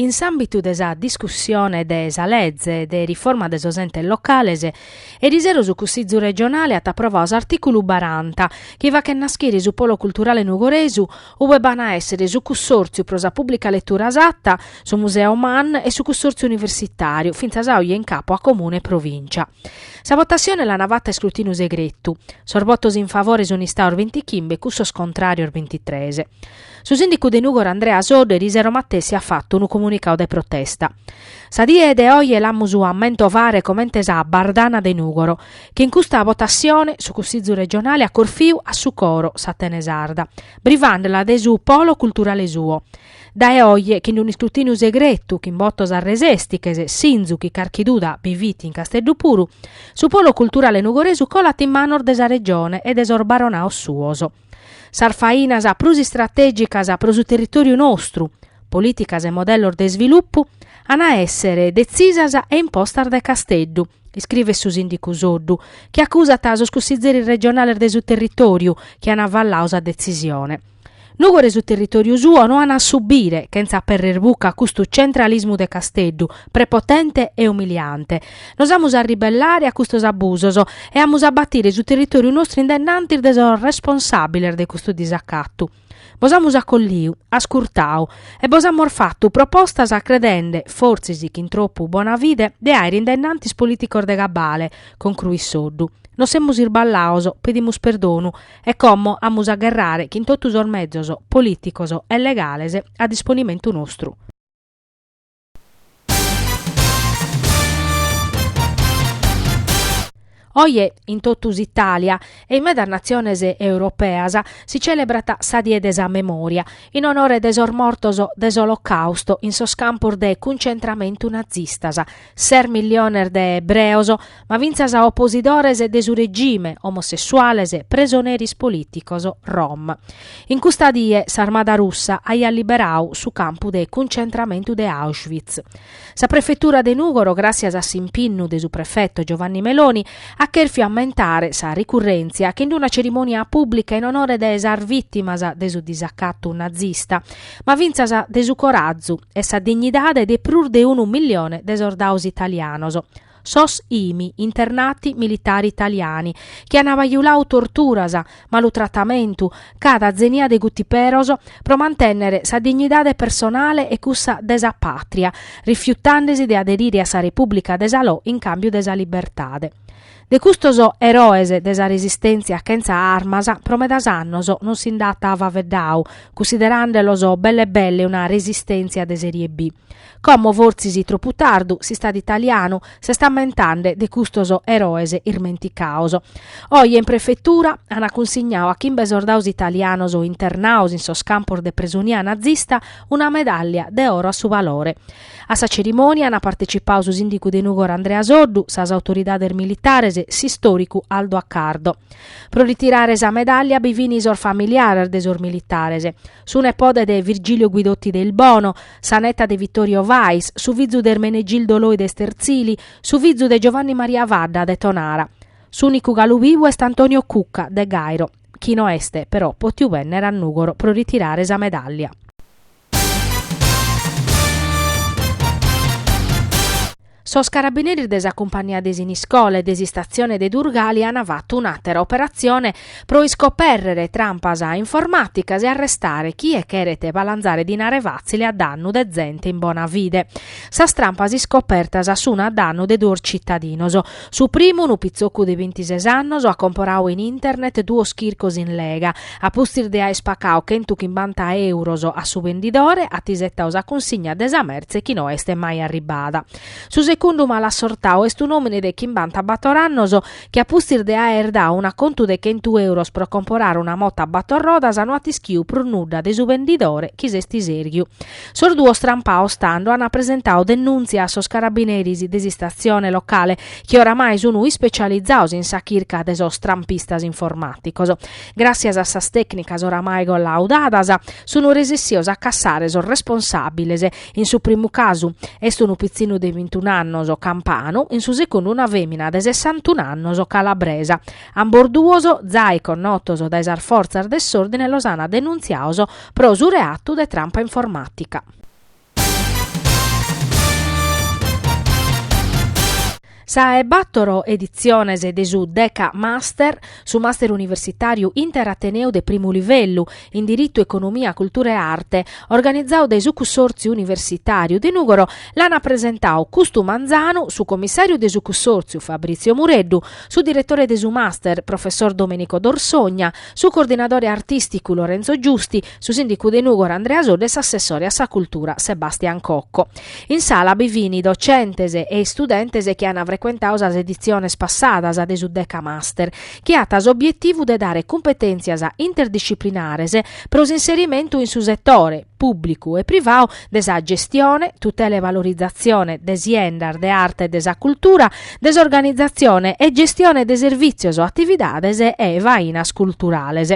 In s'àmbitu de sa discussione de sa lege de riforma de sos entes locales, eriseru su Cussìgiu regionale at aprovadu s'artìculu baranta, chi faghet nàschere su Polo Culturale Nugoresu, ube b'an a èssere su Cussòrtziu pro sa Pùblica Letura Satta, su Museo Man e su Cussòrtziu Universitàriu, fintzas a oe in capo a Comune e Provìncia. Sa votassione l'ana fata a iscrutìniu segretu. Sos votos in favore sunt istados bintichimbe e cussos contràrios bintitrès. Su sìndicu de Nùgoro Andrea Soddu erisero matessi at fatu unu comunicadu de protesta. Sa die de oe l'amus a mentovare comente sa Bardana de Nùgoro, chi in custa votassione su Cussìgiu Regionale at corfiu a su coro s'Atene Sarda, brivande·la de su polo culturale suo. Dae oe, chin unu iscrutìniu segretu, chin botos arresèstiches, sìnzu chi carchi duda bi fit in Casteddu puru, su polo culturale nugoresu colat in manos de sa Regione e de sos baronaos suos. Sas fainas prus istratègicas pro su territòriu nostru, polìticas e modellos de isvilupu, an a èssere detzisas e impostas dae Casteddu, iscrivet su sìndicu Soddu, chi acusat sos cussizeris regionales de su territòriu chi an avalladu sa detzisione. Nùgoro e su territòriu suo no an a subire, chentza apèrrere buca, custu centralismu de Casteddu, prepotente e umiliante, Nos amus a ribellare a custos abusos e amus a batire su territòriu nostru in dennantis de sos responsàbiles de custu disacatu. Bos amus acolliu, ascurtadu e bos amus fatu propostas credende, fortzis chin tropu bona fide, de àere in dennantis polìticos de cabale, concruit Soddu. Nos semus irballaos, pedimus perdonu e como amus a gherrare chin totu sos mezos, polìticos e legales, a disponimentu nostru. Oe in totu s'Itàlia e in medas natziones europeas si celebrat sa Die de sa Memòria, in onore de sos mortos de s'Olocàusto in sos campos de cuncentramentu nazistas, ses milliones de ebreos, ma fintzas oposidores de su regime, omosessuales, presoneris polìticos, rom. In custa die s'armada russa aiat liberadu su campu de cuncentramentu de Auschwitz. Sa prefetura de Nùgoro, gràssias a s'impinnu de su prefeto Giovanni Meloni, at chèrfiu ammentare sa ricurrèntzia chin una cerimònia pùblica in onore de sas vìtimas de su disacatu nazista, ma fintzas de su corazu e sa dignidade de prus de unu millione de sordados italianos. sos imi, internati militari italiani, chi an bajuladu torturas, malu tratamentu, cada zenia de bituperos pro mantènnere sa dignidade personale e cussa de sa pàtria, rifiutende si de aderire a sa Repùblica de Salò in càmbiu de sa libertade. De custos eroes de sa resistèntzia chentza armas pro medas annos non si nd'at faveddadu, cunsideràndelos belle belle una resistèntzia de serie B. Como fortzis tropu tardu s'istadu italianu s'est ammentende de custos eroes ismenticados. Oje in prefetura ant cunsignadu a chimbe sordados italianos internados in sos campos de presonia nazista una medàllia de oro a su valore. A sa cerimònia ant partecipadu su sìndigu de Nùgoro Andrea Soddu, sas autoridades militares, s'istòricu Aldo Accardo. Pro ritirare sa medàllia bi fin sos familiares de sos militares. su nepode de Virgilio Guidotti de Ilbono, sa neta de Vittorio Vais, su fizu de Ermenegildo Loi de Sterzili, su fizu de Giovanni Maria Fadda de Tonara. S'unicu galu bivu est Antonio Cucca, de Gairo, chi no est, però, potiu bennere a Nugoro pro ritirare sa medallia. Sos carabineris de sa cumpania de Siniscola e de s'istatzione de Durgali an fatu un'àtera operatzione pro iscopèrrere trampas informàticas e arrestare chie cheret balanzare dinare fàtzile a dannu de zente in bona fide. Sas trampas iscopertas sun a dannu de duos citadinos. Su primu, unu pitzocu de bintises annos, at comporadu in internet duos chircos in lega, A pustis de aer pacau chentu chimbanta euros a su bendidore, at isetau sa cunsigna de sa mertze chi no est mai arribbada. Su secundu malassortau est un'òmine de chimbanta bator annos chi a pustis de aer dau un'acontu de chentu euros pro comporare una mota a bator rodas no at ischiu prus nudda de su bendidore chi s'est isèrghiu. Sos duos trampaos tando ant presentau denùntzia a sos carabineris de s'istatzione locale chi oramai sun ispecializados in sa chirca de sos trampistas informàticos. Gràssias a sas tècnicas oramai collaudadas, sun resessios a cassare sos responsàbiles, in su primu casu est unu pitzinu de bintun'annos campanu, in su segundu una fèmina de sessantun'annos calabresa. Ambos duos, zai connotos dae sas fortzas de s'òrdine los ant denuntziados pro su reatu de trampa informàtica. Sa 'e bàtoro editziones de su Deca Master, su Master Universitàriu Interateneu de primu livellu in Diritu, Economia, Cultura e Arte, organizadu dae su Cussòrtziu Universitàriu de Nùgoro, l'ant presentadu custu manzanu su Commissàriu de su Cussòrtziu Fabrizio Mureddu, su Diretore de su Master, Professor Domenico D'Orsogna, su Coordinadore Artìsticu Lorenzo Giusti, su sìndicu de Nùgoro Andrea Soddu e s'assessore a sa cultura Sebastian Cocco. In sala bi fini docentes e istudentes chi an frecuentadu sas editziones passadas de su Decamaster, chi at s'obietivu de dare cumpetèntzias interdisciplinares pro s'inserimentu in su setore, pùblicu e privadu, de sa gestione, tutela e valorizatzione de siendas de arte e de sa cultura, de s'organizatzione e gestione de servìtzios, atividades e fainas culturales.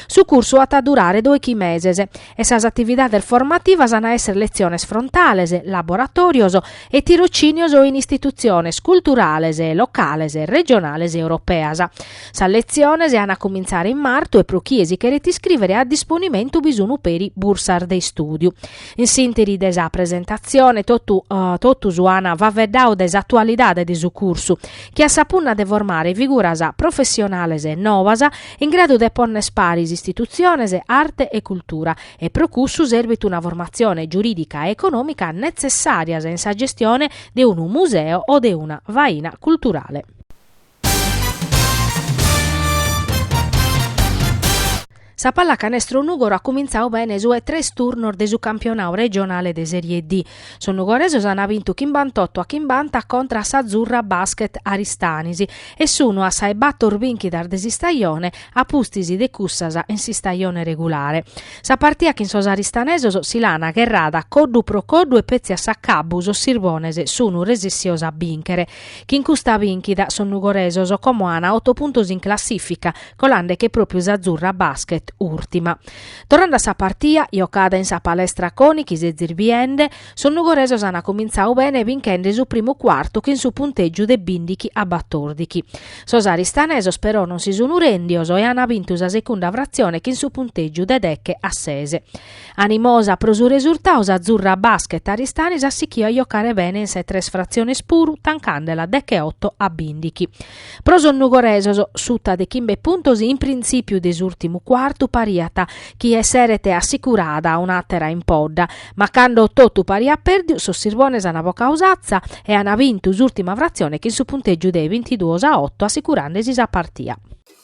Su cursu at a durare doighi meses e sas atividades formativas an a èssere letziones frontales, laboratòrios e tirocìnios in istitutziones culturales locales, regionales e europeas. Sas letziones an a cumintzare in martu e pro chie si cheret iscrìvere a disponimentu bi sun peri bursas de istùdiu. In s'ìnteri de sa presentatzione totus an faveddadu de s'atualidade de su cursu, chi at sa punna de formare figuras professionales novas in gradu de pònnere paris istitutziones, arte e cultura, e pro cussu serbit una formatzione giurìdica e econòmica netzessàrias in sa gestione de unu museo o de una faina culturale. Sa pallacanestro Nùgoro at cumintzadu bene su 'e tres turnos de su campionadu regionale de Serie D. Sos nugoresos an bintu chimbantotto a chimbanta contra a s'Azzurra Basket Aristanis e sunu a sa 'e bator binchidas de s'istajone a pustis de cussas in s'istajone regulare. Sa partia chin sos aristanesos si l'an gherrada coddu pro coddu e petzi a s'acabbu sos sirbones sunu resessios a binchere. Chin custa binchida sos nugoresos como an otto puntos in classifica, colande che propriu s'Azzurra Basket urtima. Torrande a sa partia, jocada in sa Palestra Coni chi sezis biende, sos nugoresos an cumintzadu bene binchende su primu cuartu chin su puntègiu de bindighi a batòrdighi. Sos aristanesos però non si sun rèndios e an bintu sa segunda fratzione chin su puntègiu de deghe a sese. Animosa pro su resurtadu s'Azzurra Basket Aristanis at sighiu a jocare bene in sa 'e tres fratziones puru tancandela degheoto a bindighi. Pro sos nugoresos, suta de chimbe puntos in printzìpiu de s'ùrtimu cuartu pariat chi esseret assicurada un'àtera impodda, ma cando totu pariat pèrdiu sos sirbones ant bocadu s'atza e ant bintu s'ùrtima fratzione chin su puntègiu de bintiduos a oto assicurande-si sa partia.